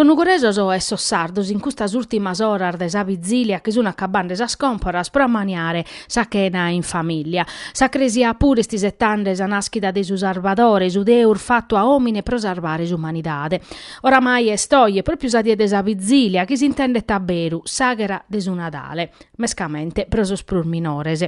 Sos nugoresos e sos sardos in custas ùrtimas oras de sa vizilia chi sun acabande sas còmporas pro ammaniare sa chena in famìlia. Sa Cresia puru est isetande sa nàschida de su Sarvadore, su Deus fatu a òmine pro sarvare s'umanidade. Oramai est oje pròpiu sa die de sa Vizìlia, chi s'intendet a beru, s'àghera de su Nadale, mescamente pro sos prus minores.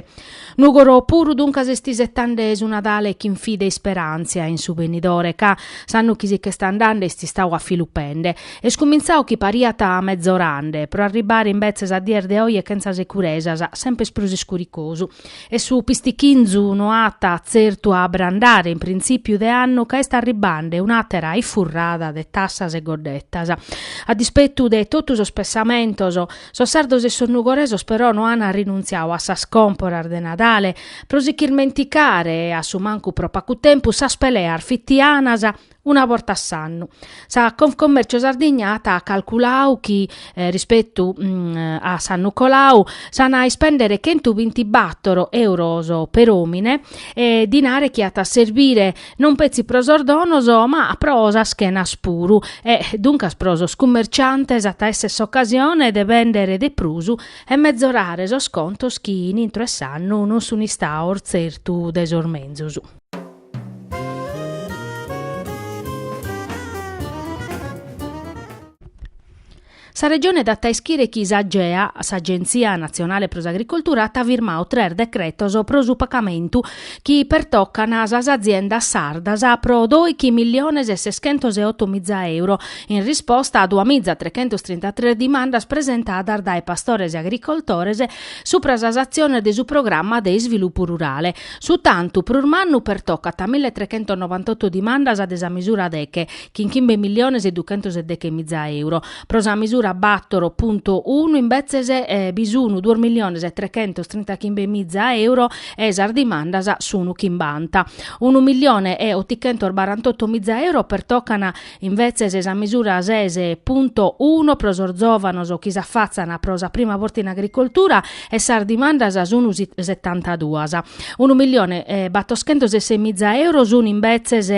Nùgoro puru duncas est isetande su Nadale chin fide e isperàntzia in su benidore, ca, s'annu chi si ch'est andande, est istau a filupende. Est cumintzau chi pariat mezorande, pro arribbare imbetzes a dies de oje chentza securesas, semper prus iscuricosu. E su pistichinzu no at tzertu a abrandare in printzìpiu de annu ca est arribbande un'àtera ifurrada de tassas e goddetas. A dispetu de totu sos pessamentos, sos sardos e sos nugoresos però no an rinuntziau a sas còmporas de Nadale pro si ch'irmenticare a su mancu pro pacu tempus sas peleas fitianas una borta a s'annu. Sa Confcommercio Sardigna at calculau chi, rispetu a s'annu colau, s'an a ispèndere chentu binti bàtoro euros per'òmine e dinare chi at a serbire non petzi pro sos donos ma pro sas chenas puru e, duncas, pro sos cummerciantes at a èssere s'ocasione de bèndere de prus e mezorare sos contos chi in intro 'e s'annu non sun istaos tzertu de sos menzus. Sa Regione dat a ischire chi s'Agea, s'Agenzia Natzionale pro s'Agricoltura, at firmau tres decretos pro su pagamentu chi pertocan sas aziendas sardas pro doichi milliones e seschentos e oto miza euro, in risposta a dua miza trechentos trintatres dimandas presentadas dae pastores e agricoltores supra sas atziones de su programma de isvilupu rurale. Su tantu prus mannu pertocat mille trechentos novantotto dimandas de sa misura deche, chin chimbe milliones e duchentos e deche miza euro, pro sa misura battoro punto unu imbetzes bi sunu duos milliones e trechentos trinta chimbe miza euro e sas dimandas sunu chimbanta unu millione e otichentos barantotto miza euro pertocan Imbetzes sa misura ses punto uno pro sos zòvanos chi s'afatzan pro sa prima borta in agricoltura e sas dimandas sun setantaduas. Unu milione e battoschentos e ses miza euro sun imbetzes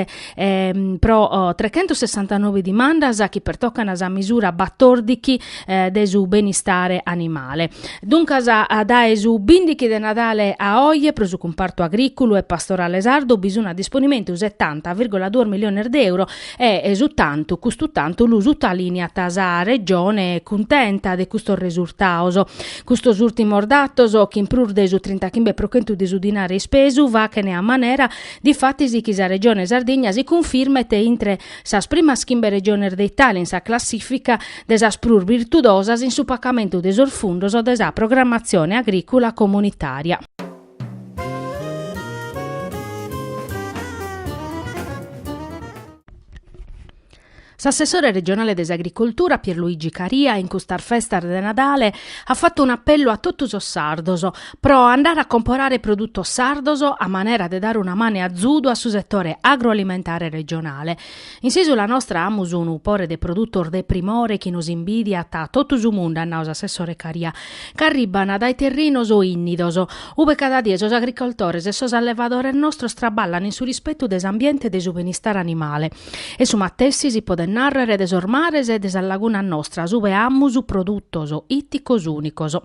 pro trechentos sessantanobe dimandas chi pertocan sa misura battordichi eh, de su benistare animale. Duncas, a dae su 15 de Nadale a oie, pro su cumpartu agrìculu e pastorale sardu bi sunt a disponimentu 70,2 miliones de euro est su tantu, custu tantu lu sutaliniat sa Regione cuntenta de custos resurtaos. Custos ùrtimos datos, chin prus de su 35 pro chentu de su dinare ispesu, fachene a manera, difatis, chi sa Regione Sardigna si cunfirmet intre sas primas chimbe Regiones de Italia in sa classìfica de sas prus birtudosas in su pacamentu de sos fundos de sa programmatzione agrìcula comunitària. S'assessore regionale de s'agricoltura Pierluigi Caria in custas festas de Nadale at fatu un'apellu a totu sos sardos pro andare a comporare produtos sardos a manera de dare una manu 'e azudu a su setore agroalimentare regionale In s'Isula nostra amus unu pore de produtos de primore chi nos imbidiat totu su mundu, at nau s'assessore Caria, ch'arribban dae terrinos ìnnidos, ube cada die sos agricoltores e sos allevadores nostros traballan in su rispetu de s'ambiente e de su benistare animale. E su matessi si poden narrer de sos mares e de sas lagunas nostras ube amus produtos itticos unicos.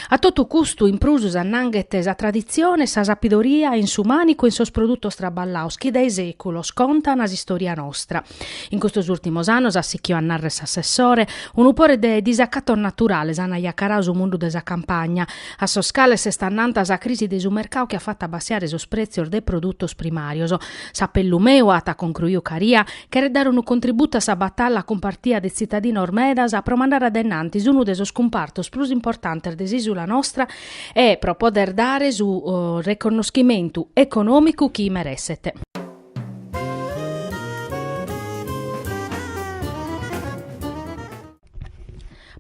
A totu custu in prus s'annanghet sa traditzione e sa sapidoria in su mànicu e in sos produtos traballaos chi dae sèculos contan s'istòria nostra. In custos ùrtimos annos, at sichiu a narrer s'assessore, unu pore de disacatos naturales an ajacarau su mundu de sa campagna, a sos cales s'est annanta sa crisi de su mercau chi at fatu abbassiare sos prètzios de produtos primàrios. S'apellu meu, at concruiu Caria, Cheret dare unu contributu a sa batalla cumpartia de tzitadinos medas pro mandare a dainnantis unu de sos cumpartos prus importantes de s'ìsula nostra e pro poder dare su reconnoschimentu econòmicu chi meresset.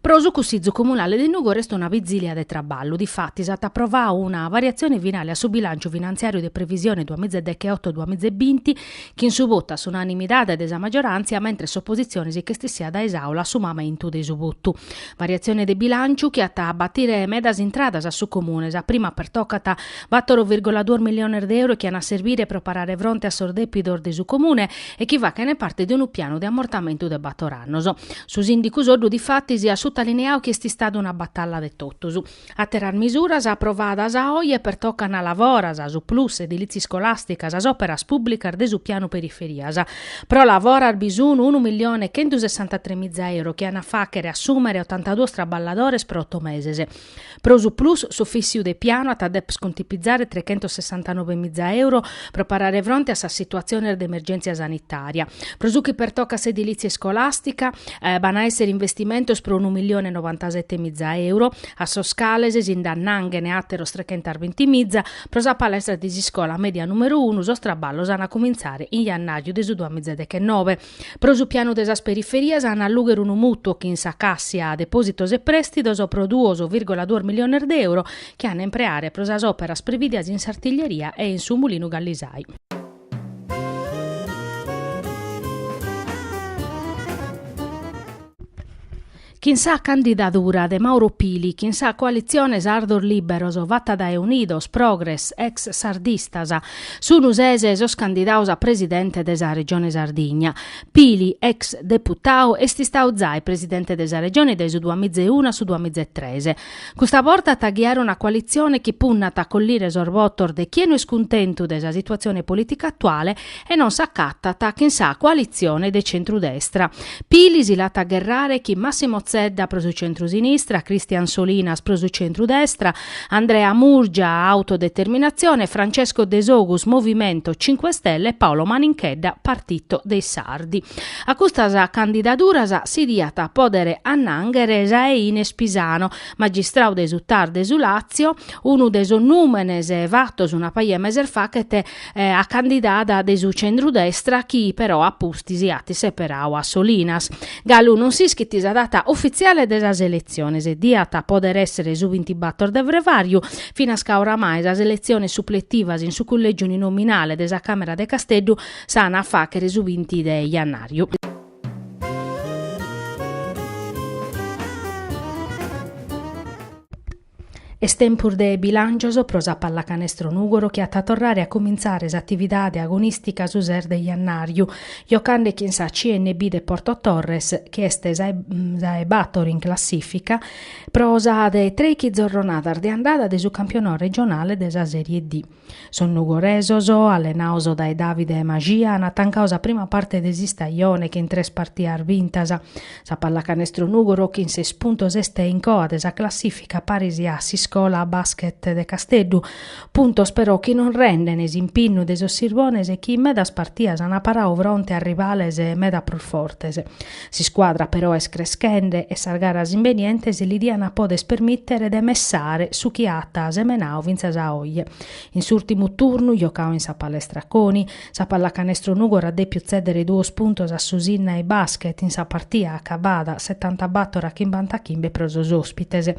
Pro su Cussizu Comunale de Nùgoro est una bizìlia de traballu, difatis at aprovau una variatzione finale a su bilànciu finantziàriu de previsione duas miza e dechioto-duas miza e binti, chin su votu a s'unanimidade de sa magioràntzia, mentres s'opositzione si ch'est essia dae s'Àula a su mamentu de su votu. Variatzione de bilànciu chi at a batire medas intradas a su Comune. Sa prima pertocat a bator virgola duos milliones de euro chi an a serbire pro parare fronte a sos dèpidos de su Comune e chi fachene parte de unu pianu de amortamentu de bator annos. Su sìndicu Soddu difatis at sutalineau chi est istada una batalla de totus. Àteras misuras aprovadas a oje pertocan LavoRAS, su PLUS, edilìtzia iscolàstica, sas òperas pùblicas de su pianu periferias. Pro LavoRAS bi sun unu milione e chentu sessantatremiza euros chi an a fàchere assùmere otantaduos traballadores pro oto meses. Pro su plus s'Ufìssiu de Pianu at a dèper contipizare trechentossessantanove miza euro pro parare fronte a sas situatziones de emergèntzia sanitària. Pro su chi pertocat s'edilìtzia iscolàstica, b'an a èssere investimentos pro unu milione e novantasete miza euro, a sos cales si nd'annànghene àteros trechentas binti miza, pro sa palestra de s'iscola mèdia nùmeru unu sos traballos an a cumintzare in jannàriu de su duamiza dechenove. Pro su pianu de sas periferias an a allùghere unu mutuo chin sa Cassia Depositos e Prestidos pro duos virgola duos miliones de euro chi an a impreare pro sas operas previdias in s'Artiglieria e in su Mulinu Gallisai. Chin sa candidadura de Mauro Pili chin sa coalitzione Sardos Liberos fata dae Unidos, Progres, Ex Sardistas, sunu sese sos candidados a presidente de sa Regione Sardigna. Pili, ex deputadu, est istadu zai presidente de sa Regione dae su duamiza e unu a su duamiza e tres. Custa borta at a ghiare una coalitzione chi punnat a collire sos votos de chie no est cuntentu de sa situatzione polìtica atuale e non s'acatat chin sa coalitzione de centru-destra. Pili si l'at a gherrare chin Massimo Zedda pro su centru-sinistra, Christian Solinas pro su centru-destra, Andrea Murgia, Autodeterminatzione, Francesco Desogus, Movimento Cinque Stelle, e Paolo Maninchedda, Partito dei Sardi. A custas candidaduras si diat a pòdere annànghere sa 'e Ines Pisano, magistradu de su Tar de su Làtzio, unu de sos nùmenes fatos una paja 'e meses faghet a candidada de su centru-destra chi però a pustis at seperadu a Solinas. Galu non s'ischit sa data ufitziale de sas eletziones, diat a pòdere èssere su bintibator de frevàriu, finas ca oramai sas eletziones supletivas in su cullègiu uninominale de sa Càmera de Casteddu s'ant a fàghere su binti de jannàriu. Est tempus de bilàncios pro sa pallacanestro Nùgoro chi at a torrare a cumintzare s'atividade agonìstica su ses de jannàriu, jocande chin sa CMB de Porto Torres chi est sa 'e bator in classìfica pro sa de trèighi zorronadas de andada de su campionau regionale de sa Serie D. Sos nugoresos, allenados dae Davide Maxia, an tancadu sa prima parte de s'istajone chin tres partidas bintas. Sa pallacanestro Nùgoro chin ses puntos est in coa de sa classìfica paris a s'Iscola Basket de Casteddu, puntos però chi non rendene s'impinnu de sos sirbones chi in medas partidas an paradu fronte a rivales meda prus fortes. S'iscuadra però est creschende e sas garas imbenientes li dian a podes permìtere de messare su chi at semenadu fintzas a oje. In s'ùrtimu turnu, giocadu in sa Palestra Coni, sa Pallacanestro Nùgoro at dèpiu tzèdere duos puntos a su Sinnai Basket in sa partia acabada setantabator a chimbantachimbbe pro sos òspites.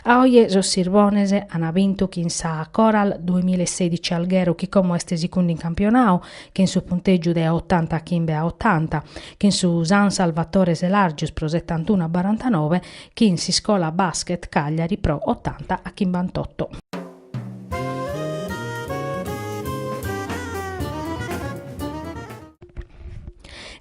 A oje sos sirbones an bintu chin sa Coral duemilla e sedici Alghero chi como est sicundi in campionadu chin su puntègiu de otantachimbe a otanta, chin su San Salvatore Selàrgius pro setantunu a barantanove, chin s'Iscola Basket Cagliari pro otanta a chimbantotto.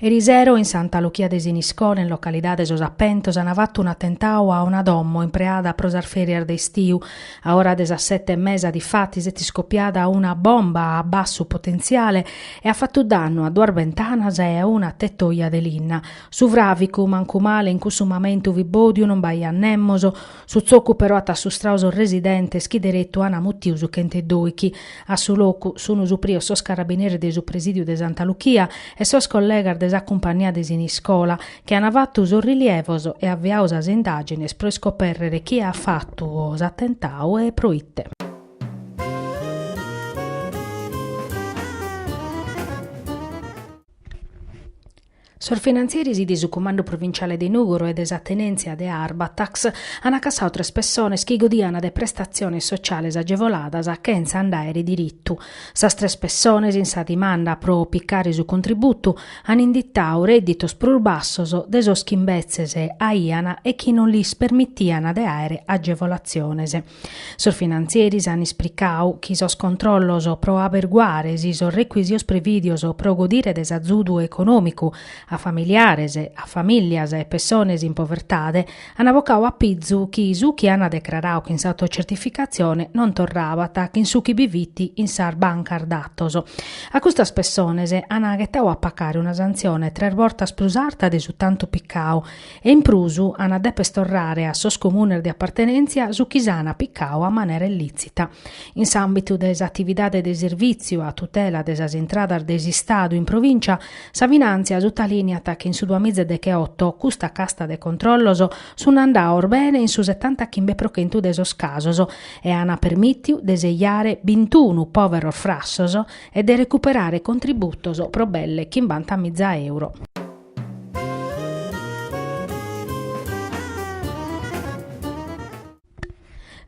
Erisero in Santa Luchia de Siniscola, in localidade Sos Appentos, an fattu un'attentau a una domo impreada pro sas ferias de istiu. A ora de sas sette e mesa diffatis s'est iscopiada una bomba a bassu potentziale e at fatu dannu a duas bentanas e a una tetoja de linna. Su fràvicu, mancu male, in cussu mamentu fit bòdiu, non b'aiat nemos, su tzocu però at assustradu sos residentes chi deretu ant mutiu su chent'e doichi. A su locu sunt suprios sos carabineris de su presìdiu de Santa Luchia e sos collegas de sa cumpannia de Siniscola, chi ant fatu sos rilievos e aviadu sas indàgines pro iscopèrrere chie at fatu s'atentadu e pro ite. Sos finantzieris de su Cumandu Provinciale de Nùgoro e de sa tenèntzia de Arbatax ant acassadu tres pessones chi godiant de prestatziones sociales agevoladas chentza nd'àere diritu. Sas tres pessones, in sa dimanda pro picare su contributu, ant inditadu rèdditos prus bassos de sos chi imbetzes aiant e chi non lis permitiant de àere agevolatziones. Sos finantzieris an ispricadu chi sos controllos pro aberguare si sos rechisitos prevìdios pro godire de s'azudu econòmicu a familiares, a famìllias e pessones in povertade an bocadu a pizu chi su chi an decraradu chin s'autocertificatzione non torrabat chin su chi bi fit in sas bancas datos. A custas pessones an ghetadu a pagare una santzione tres bortas prus arta de su tantu picadu E in prus an a depes torrare a sos comunes de apartenèntzia su chi s'an picadu a manera illìtzita. In s'àmbitu de s'atividade de sirvìtziu a tutela de sas intradas de s'Istadu in provìncia, sa Finàntzia sutalìneat chi in su duamiza decheoto custa casta de controllos sunt andados bene in su setantachimbe pro chentu de sos casos e an permìtiu de sejare bintunu pòveros frassos e de recuperare contributos pro belle chimbanta miza euro.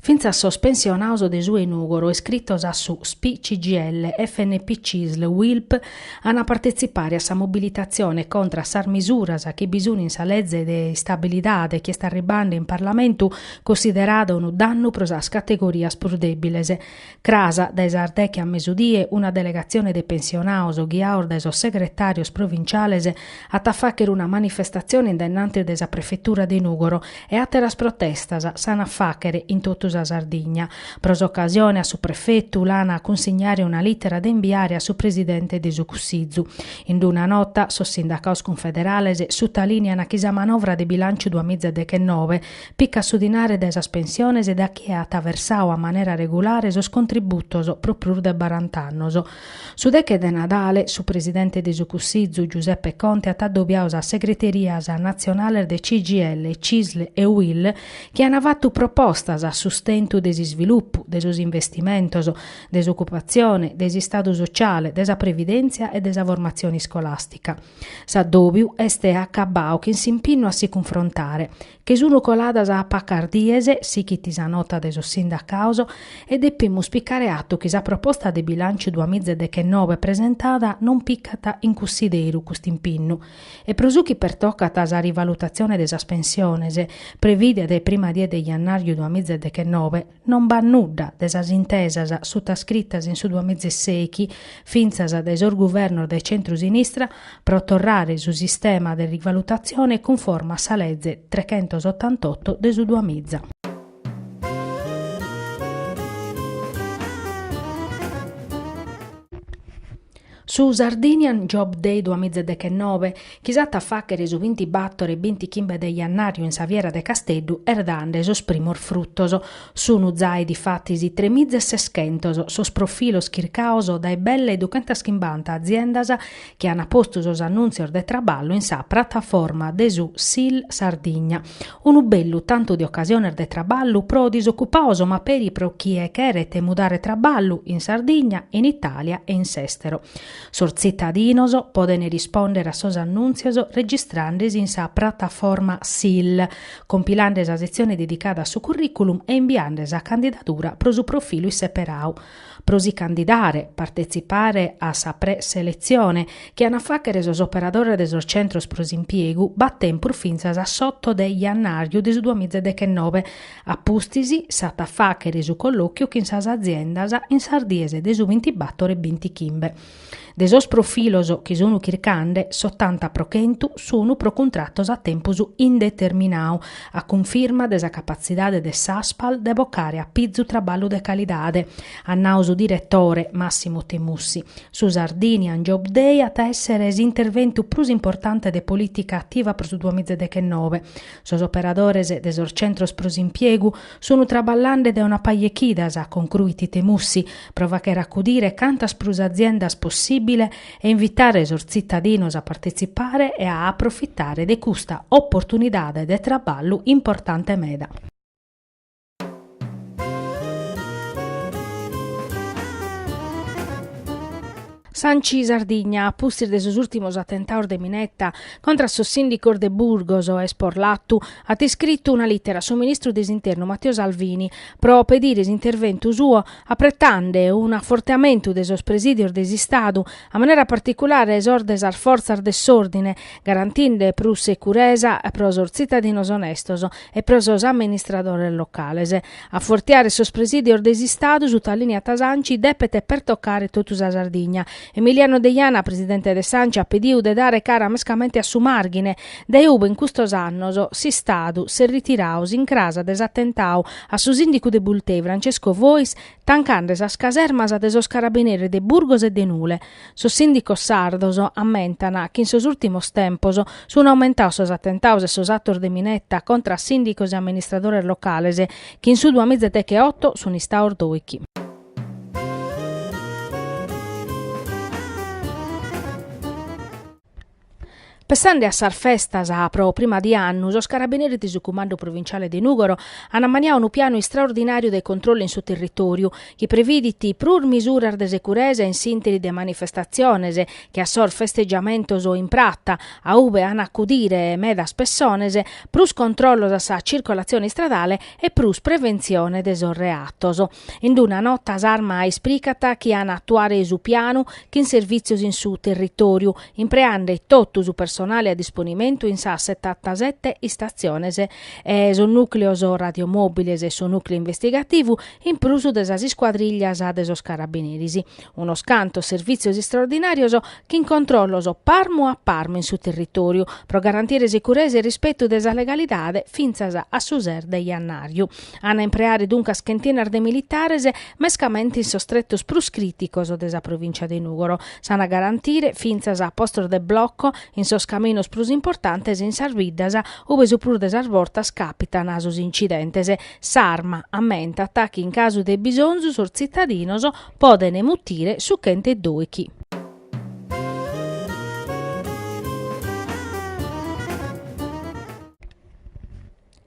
Fintzas sos pensionados de su de Nùgoro iscritos a su SPI CGIL, FNP Cisl, Uilp ant a partetzipare a sa mobilitatzione contra a sas misuras chi bi sunt in sa leze de istabilidade chi est arribende in Parlamentu, considerada unu dannu pro sas categorias prus dèbiles. Cras dae sas deghe a mesudie una delegatzione de pensionados ghiados dae sos segretàrios provinciales at a fàghere una manifestatzione in dennantis de sa prefetura de Nùgoro e àteras protestas s'an a fàghere in totu sa Sardigna. Pro s'ocasione a su prefetu l'an a cunsignare una lìtera de imbiare a su presidente de su Cussizu. In una nota sos sindacados cunfederales sutalìnian chi sa manovra de bilànciu duamiza deghenove Picat su dinare dae sas pensiones e dae chie at versadu a manera regulare sos contributos pro prus de barant'annos. Su deche de Nadale, su presidente de su Cussizu, Giuseppe Conte at adobiadu sas segreterias natzionales de CGIL, Cisl e UIL chi an fatu propostas a sustentu de s'isvilupu, de sos investimentos, de s'ocupatzione, de s'istadu sotziale, de sa previdèntzia e de sa formatzione iscolàstica. S'adòbiu est acabadu chin s'impinnu a si cunfrontare, Chi sunu coladas pacas dies, sighit sa nota de sos sindacaos, e depimus picare atu chi sa proposta de bilànciu duas miza e deghenove presentada non picat in cussideru custu impinnu. E pro su chi pertocat sa rivalutatzione de sas pensiones, prevìdida dae prima die de jannàrriu duas miza e deghenove, Non b'at nudda de sas intesas sutascritas in su duamizesèichi, fintzas de sos guvernos de centru-sinistra, pro torrare su sistema de rivalutatzione cunforme a sa leze trechentosottantotto de su duamiza. Su Sardinian Job Day duamizedeghenobe, chi s'at a fàghere su bintibatore e bintichimbe de jannàriu in sa Fiera de Casteddu, est dande sos primos frutos. Sunu zai difatis tremiza e seschentos sos profilos chircados dae belle e duchentas chimbanta aziendas chi an postu sos annùntzios de traballu in sa prataforma de su Sil Sardigna, Unu bellu tantu de ocasiones de traballu pro disocupados ma peri pro chie cheret mudare traballu in Sardigna, in Itàlia e in s'èstero. Sos tzitadinos podent rispòndere a sos annùntzios registrande si in sa prataforma sil, compilande sa setzione dedicada a su currìculum e imbiande sa candidadura pro su profilu isseperadu. Pro si candidare, partetzipare a sa pre-seletzione, chi an a fàghere sos operadores de sos centros pro s'impiegu, b'at tempus fintzas a s'oto de jannàriu de su duamiza e dechenove. A pustis, s'at a fàghere su collòchiu chin sas aziendas in sas dies de su bintibatore e bintichimbe. De sos profilos chi sun chircande, s'otanta pro chentu sun pro cuntratos a tempus indeterminau, a cunfirma de sa capatzidade de s'Aspal de bocare apizu traballu de calidade, at nau su diretore, Massimo Temussi. Su Sardinian Job Day at a èsser s'interventu prus importante de polìtica ativa pro su duamiza deghenove. Sos operadores de sos centros pro s'impiegu Sunu traballande de una paja 'e chidas, concruit Temussi, pro fàchere acudire cantas prus aziendas possìbile e invitare sos tzitadinos a partetzipare e a aprofitare de custa oportunidade de traballu importante meda. S'Anci Sardigna, a pustis de sos ùrtimos atentaos de mineta contra a sos sìndicos de Burgos e Isporlatu, at iscritu una lìtera a su ministru de s'Internu Matteo Salvini pro pedire s'interventu suo apretande un afortiamentu de sos presìdios de s'Istadu, a manera particulare sos de sas fortzas de s'òrdine, garantinde prus securesa pro sos tzitadinos onestos e pro sos amministradores locales. Afortiare sos presìdios de s'Istadu, sutalìneat s'Anci, depet pertocare totu sa Sardigna. Emiliano Deiana, presidente de s'Anci, at pediu de dare cara mescamente a su Màrghine, dae ube in custos annos s'Istadu s'est ritirau s'incràs de s'atentau a su sìndicu de Bultei, Francesco Fois, tancande sas casermas de sos carabineris de Burgos e de Nule. Sos sìndicos sardos ammentan chi in sos ùrtimos tempos sun aumentaos sos atentaos e sos atos de mineta contra a sìndicos e amministradores locales, chi in su duamiza decheoto sun istaos dòichi. Pessande a sas festas pro prima die 'e annu, sos Carabineris de su Cumandu Provinciale de Nùgoro an ammaniau unu pianu istraordinàriu de controllu in su territòriu, chi previdit prus misuras de securesa in s'ìnteri de manifestatziones che a sos festegiamentos in prata, a ube an a acudire medas pessones, prus controllos a sa tzircolatzione istradale e prus preventzione de sos reatos. In d-una nota s'Arma ispricat chi an atuare su pianu chin servìtzios in su territòriu, impreande totu su personale a disponimentu in sas setantasete istatziones e sos nùcleos radiomòbiles e su nùcleu investigativu in prus de sas iscuadrìllias de sos carabineris. unos cantos servìtzios istraordinàrios chin controllos parmu a parmu in su territòriu pro garantire securesa e rispetu de sa legalidade fintzas a su ses de jannàriu. Ant a impreare duncas chentinas de militares mescamente in sos tretos prus crìticos de sa provìncia de Nùgoro. S'ant a garantire fintzas a postos de bloco in sos caminos prus importantes e in sas biddas ube su prus de sas bortas càpitan sos incidentes. S'arma ammentat chi in casu de bisonzu sos tzitadinos Podene mutire su chentedoichi.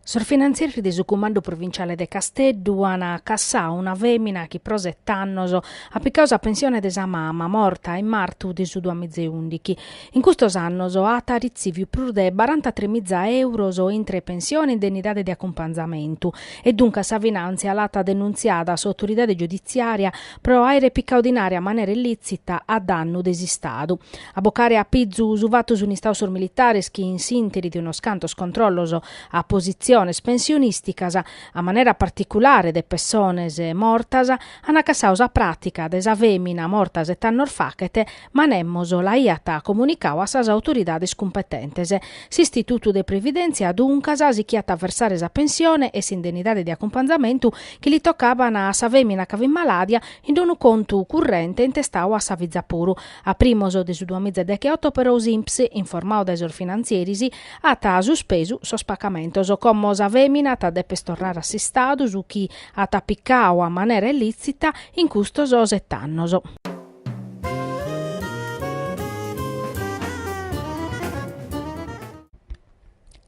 Sos finantzieris de su Cumandu Provinciale de Casteddu an cassau una femina chi pro set'annos at picau sa pensione de sa mama morta in martu de su duamizeundichi In custos annos at retziviu prus de barantatrè miza euros intre pensione e indennidade de acumpanzamentu e duncas sa Finàntzia l'at denuntziada a s'autoridade giuditziària pro àere picau dinare a manera illìtzita a dannu de s'Istadu. A bocare a pizu su fatu sun istaos sos militares chi in s'ìnteri de unos cantos controllos a positziones pensionìsticas, a manera particulare de pessones mortas, an cassau sa pràtica de sa fèmina morta set'annos fachet, ma nemos l'aiat comunicau a sas autoridades cumpetentes. S'Istitutu de Previdèntzia, duncas, sichiat a versare sa pensione e s'indennidade de acumpanzamentu chi li tocaban a sa fèmina ca fit maladia in d'unu contu currente intestau a sa fiza puru. A primos de su duamiza e decheoto, però, s'INPS, informau dae sos finantzieris, at suspesu sos pacamentos. Como sa fèmina at a dèper torrare a s'Istadu su chi at picau a manera illìtzita in custos set'annos.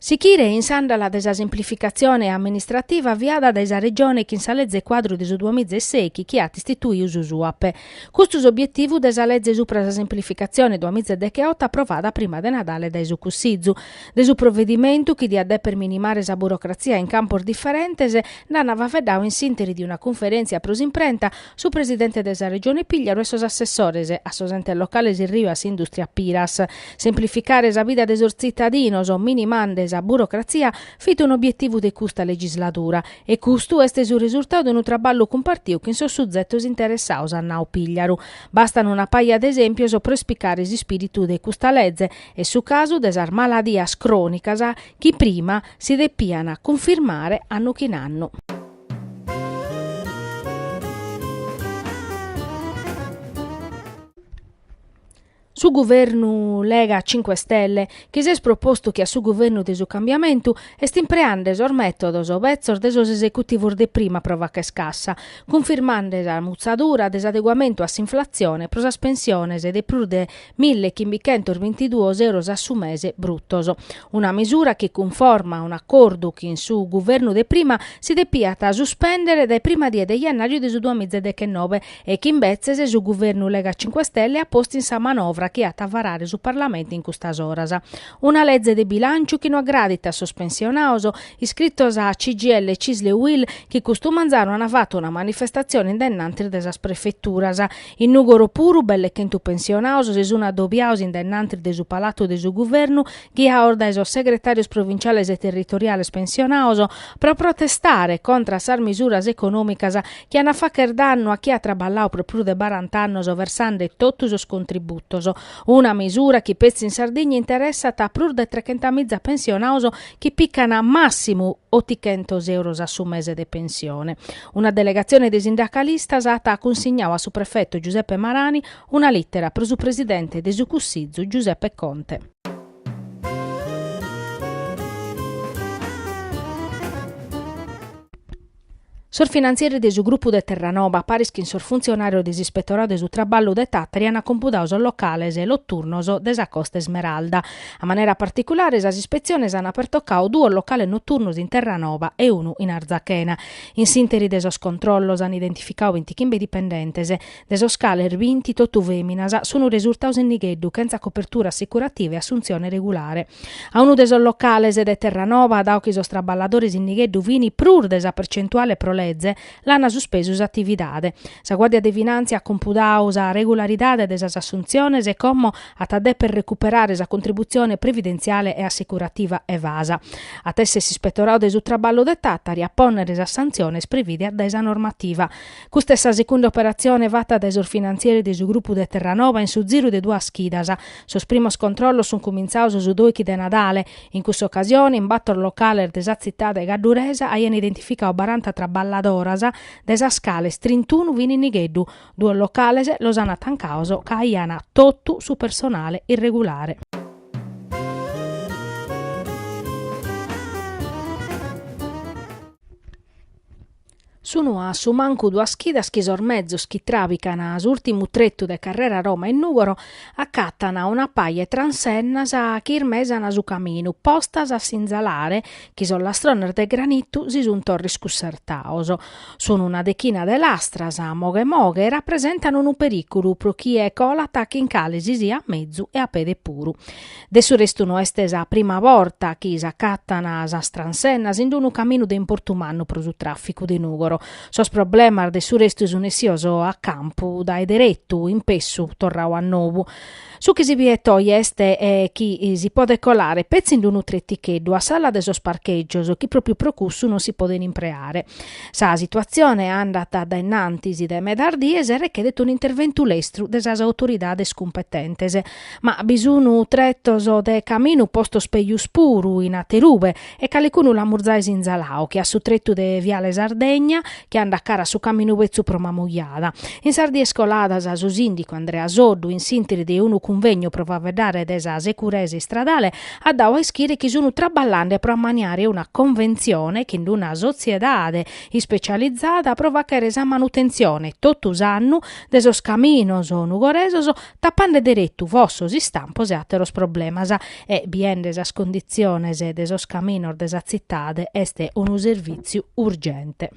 Sichire in s'àndala de sa semplificatzione amministrativa aviada dae sa Regione chin sa Leze Cuadru de su duamiza e seichi chi at istituiu su SUAPE. Custu s'obietivu de sa Leze supra sa semplificatzione duamiza e decheoto aprovada prima de Nadale dae su Cussizu. De su provedimentu chi diat deper minimare sa burocratzia in campos diferentes nd'an faveddau in s'interi de una cunferèntzia pro s'imprenta su presidente de sa Regione Pigliaru e sos assessores, a sos entes locales Erriu, a s'Indùstria Piras. Semplificare sa vida de sos tzitadinos, minimande sa burocratzia, fit un'obietivu de custa legisladura e custu est su resultadu de unu traballu cumpartiu chin sos suzetos interessaos, at nau Pigliaru. Bastan una paja de esèmpios pro ispicare s'ispìritu de custa leze e su casu de sas maladias crònicas chi prima si depian cunfirmare annu chin annu. Su guvernu Lega Cinque Stelle, chi s'est propostu che a su guvernu de su cambiamentu, est impreande sos mètodos betzos de sos esecutivos de prima pro facher cassa, cunfirmande sa mutzadura de s'adeguamentu a s'inflatzione pro sas pensiones de prus de 1.522 euros a su mese brutos. Una misura chi cunforma a un'acordu chi in su guvernu de prima si depiat suspèndere dae prima die de jannàriu de su duamiza dechenobe e chi imbetzes su guvernu Lega Cinque Stelle at postu in sa manovra chi at a varare su Parlamentu in custas oras. Una leze de bilànciu chi no agradit a sos pensionados, iscritos a CGIL, Cisl e UIL chi custu manzanu ant fatu una manifestatzione in de innantis de sas prefeturas In Nùgoro puru belle chentu pensionados si sun adobiados in de innantis de su Palatu de su Guvernu, ghiados dae sos segretàrios provinciales e territoriales pensionados, pro protestare contra a sas misuras econòmicas chi an a fàchere dannu a chie at traballadu pro prus de barant'annos versande totu sos contributos. Una misura chi petzi in Sardigna interessat a prus de trechentamìza pensionados chi pican màssimu otichentos euros a su mese de pensione. Una delegatzione de sindacalistas at cunsignadu a su prefetu Giuseppe Marani una lìtera pro su presidente de su Cussizu Giuseppe Conte. Sos finantzieris de su grupu de Terranoba, paris chin sos funtzionàrios de s'Ispetoradu de su Traballu de Tàtari ant compudadu sos locales noturnos de sa Costa Ismeralda. A manera particulare sas ispetziones ant pertocadu duos locales noturnos in Terranoba e unu in Arzachena. In s'interi de sos controllos an identificadu bintichimbe dipendentes, de sos cales binti totu fèminas, sun resurtados in nigheddu chentza copertura assicurativa e assuntzione regulare. A unu de sos locales de Terranoba, dadu chi sos traballadores in nigheddu fin prus de sa percentuale pro leze, l'an suspesu s'atividade. Sa Guàrdia de Finàntzia at compudadu sa regularidade de sas assuntziones e como at a deper recuperare sa contributzione previdentziale e assicurativa evasa, at a èssere s'ispetoradu de su traballu de Tàtari a pònnere sas santziones previdias dae sa normativa. Custa est sa secunda operatzione fata dae sos finantzieri de su grupu de Terranoba in su ziru de duas chidas. Sos primos controllos sunt cumintzados su dòichi de Nadale. In cussa ocasione, in bator locales de sa tzitade cadduresa aiant identificadu baranta traballadoras, de sas cales trintunu fin in nigheddu, Duos locales los ant tancados ca aian totu su personale irregulare. Sun a su mancu duas chidas chi sos mezos chi tràbican s'ùrtimu tretu de Carrera Roma in Nùgoro acatan una paja 'e transennas chi ismesan su caminu, postas a sinzalare chi sos lastrones de granitu si sunt torra iscussertados. Sunu una dechina de lastras, moghe moghe, e rapresentan unu perìculu pro chie colat chin cale si siat mezu e a pede puru. De su restu no est sa prima borta chi s'acatan sas transennas in unu caminu de importu mannu pro su tràficu de Nùgoro. Sos problemas de su restu sun essios a campu dae deretu, in pessu torradu a nobu. Su chi si biet oje est chi si podet colare petzi in unu treticheddu a s'ala de sos parchègios chi pròpiu pro cussu non si poden impreare. Sa situatzione andat a dae innantis de medas dies e rechedet un'interventu lestru de sas autoridades cumpetentes. Ma bi sun tretos de caminu postos pejus puru in aterube e calicunu l'amus zai sinzalao che a su trettu de Viale Sardegna chi andat cara a su caminu betzu pro Mamujada. In sas dies coladas su sindicu Andrea Soddu in s'ìnteri de unu cunvegnu pro faveddare de sa securesa istradale at dau a ischire chi sunu traballande pro ammaniare una conventzione chin d'una sotziedade ispecializada pro fachere sa manutentzione tottu s'annu de sos caminos nugoresos tapande deretu fossos istampos e àteros problemas e biende sas conditziones de sos caminos de sa tzitade est unu servìtziu urgente.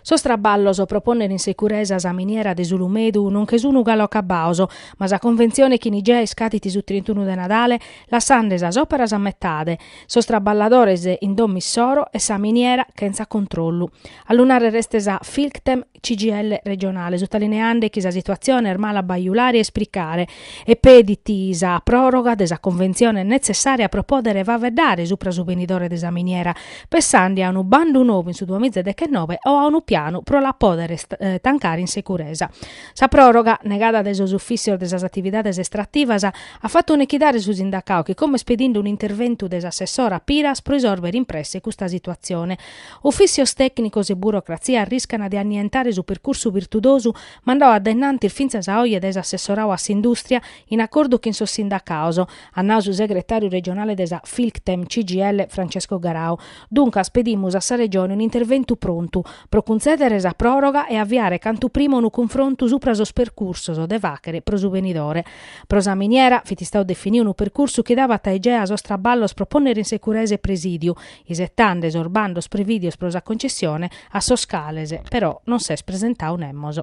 Sos traballos pro pònnere in securesa sa miniera de s'Ulumedu non che sun galu acabaos, ma sa conventzione chin Igea iscadit su trintunu de Nadale lassande sas òperas a metade. Sos traballadores in domo issoro e sa miniera chentza controllu. A lu nàrrere est sa Filctem CGIL regionale, sutalineande chi sa situatzione est mala a bajulare e ispricare e pedit sa pròroga de sa conventzione netzessària pro pòdere faveddare supra su benidore de sa miniera, pensande a unu bandu nou in su duamiza e dechenobe o a unu pianu pro la pòdere tancare in securesa. Sa pròroga, negada dae sos ufìtzios de sas atividades estrativas, At fatu nechidare su sindacau chi como est pedinde un'interventu de s'assessora Piras pro isòrbere in presse custa situatzione, ufìtzios tècnicos e burocratzia arriscana de annientare su percursu virtudosu mandau a dae innantis fintzas a oje dae s'assessorau a s'indùstria in acordu chin sos sindacaos, at nau su segretàriu regionale de sa Filctem-CGIL Francesco Garau. Duncas pedimus a sa Regione un'interventu prontu pro cuntzèdere sa pròroga e aviare cantu prima unu cunfrontu supra sos percursos de fàchere pro su benidore. Pro sa miniera fit istau definiu unu percursu chi dabat a Igea sos traballos pro pònnere in securesa e presidiu, isetande sos bandos prevìdios pro sa concessione, a sos cales, però, non s'est presentau nemos.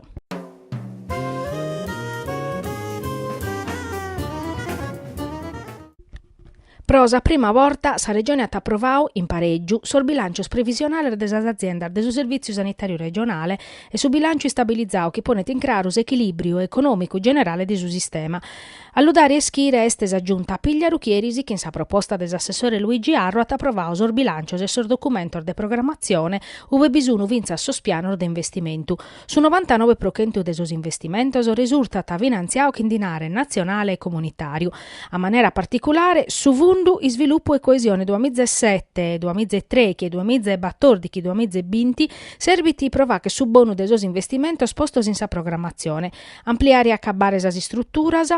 Pro sa prima borta sa Regione at aprovau, in parègiu, sos bilàncios previsionales de sas aziendas de su Servìtziu Sanitàriu Regionale e su bilànciu istabilizau chi ponet in craru s'echilìbriu econòmicu generale de su sistema. A lu dare a ischire est sa Giunta Pigliaru chi eris chin sa proposta de s'assessore Luigi Arru at aprovau sos bilàncios e sos documentos de programmatzione ube bi sun fintzas sos pianos de investimentu. Su novantanove pro chentu de sos investimentos resurtat finantziadu chin dinare natzionale e comunitàriu, a manera particulare su Fundu Isvilupu e Coesione duas miza e sete, duas miza e trèighi e duas miza e batòrdighi, duas miza e binti serbit pro fàghere su bonu de sos investimentos postos in sa programmatzione, ampliare e acabbare sas istruturas,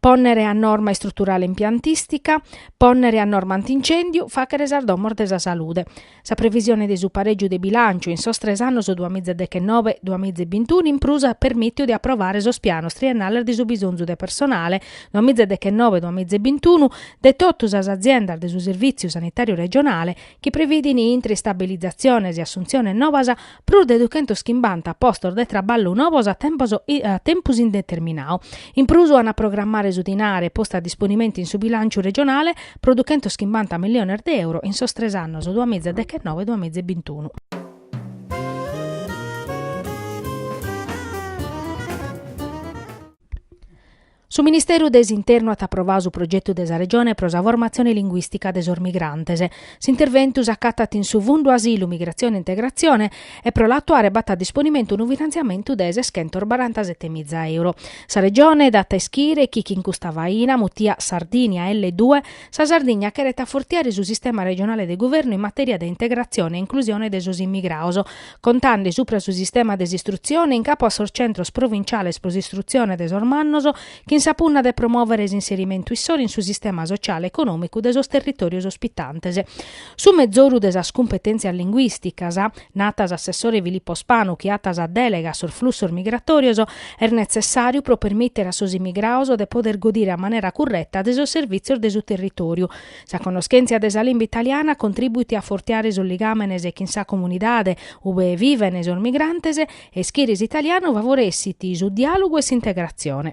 pònnere a norma istruturale impiantìstica, pònnere a norma antincèndiu, fàghere sas domos de sa salude. Sa previsione de su parègiu de bilànciu in sos tres annos duas miza e deghenove, duas miza e bintunu in prus at permìtiu de aprovare sos pianos triennales de su bisonzu de personale duas miza e deghenove, duas miza e bintunu de totu sas aziendas de su Servìtziu Sanitàriu Regionale chi previdin intre istabilizatziones e assuntziones nobas prus de duchentos chimbanta postos de traballu novos a tempus indeterminadu. In prus an a programmare su dinare postu a disponimentu in su bilanciu regionale pro duchentos chimbanta milliones de euro in sos tres annos duas miza e dechenove duas miza e bintunu. Su Ministeru de s'Internu at aprovadu su progetu de sa Regione pro sa formatzione linguìstica de sos migrantes. S'interventu s'acatat in su Fundu Asilu, Migratzione e Integratzione e pro l'atuare b'at a disponimentu unu finantziamentu de seschentos barantasete miza euro. Sa Regione dat a ischire chi chin custa faina, mutia Sardinia elle due, sa Sardigna cheret afortiare su sistema regionale de guvernu in matèria de integratzione e inclusione de sos immigrados, contande supra su sistema de s'istrutzione in capu a sos centros provinciales pro s'istrutzione de sos mannos, chin sa punna de promòvere s'inserimentu issoro in su sistema sotziale e econòmicu de sos territòrios ospitantes. Su mezoru de sas cumpetèntzias linguìsticas, narat s'assessore Filippo Spanu chi at sa dèlega a sos flussos migratòrios, est netzessàriu pro permìtere a sos immigrados de poder godire a manera curreta de sos servìtzios de su territòriu, Sa connoschèntzia de sa limba italiana contribuit a afortiare sos ligàmenes chin sa comunidade ue vivent sos migrantes e ischire s'italianu favoressit su diàlogu e s'integratzione.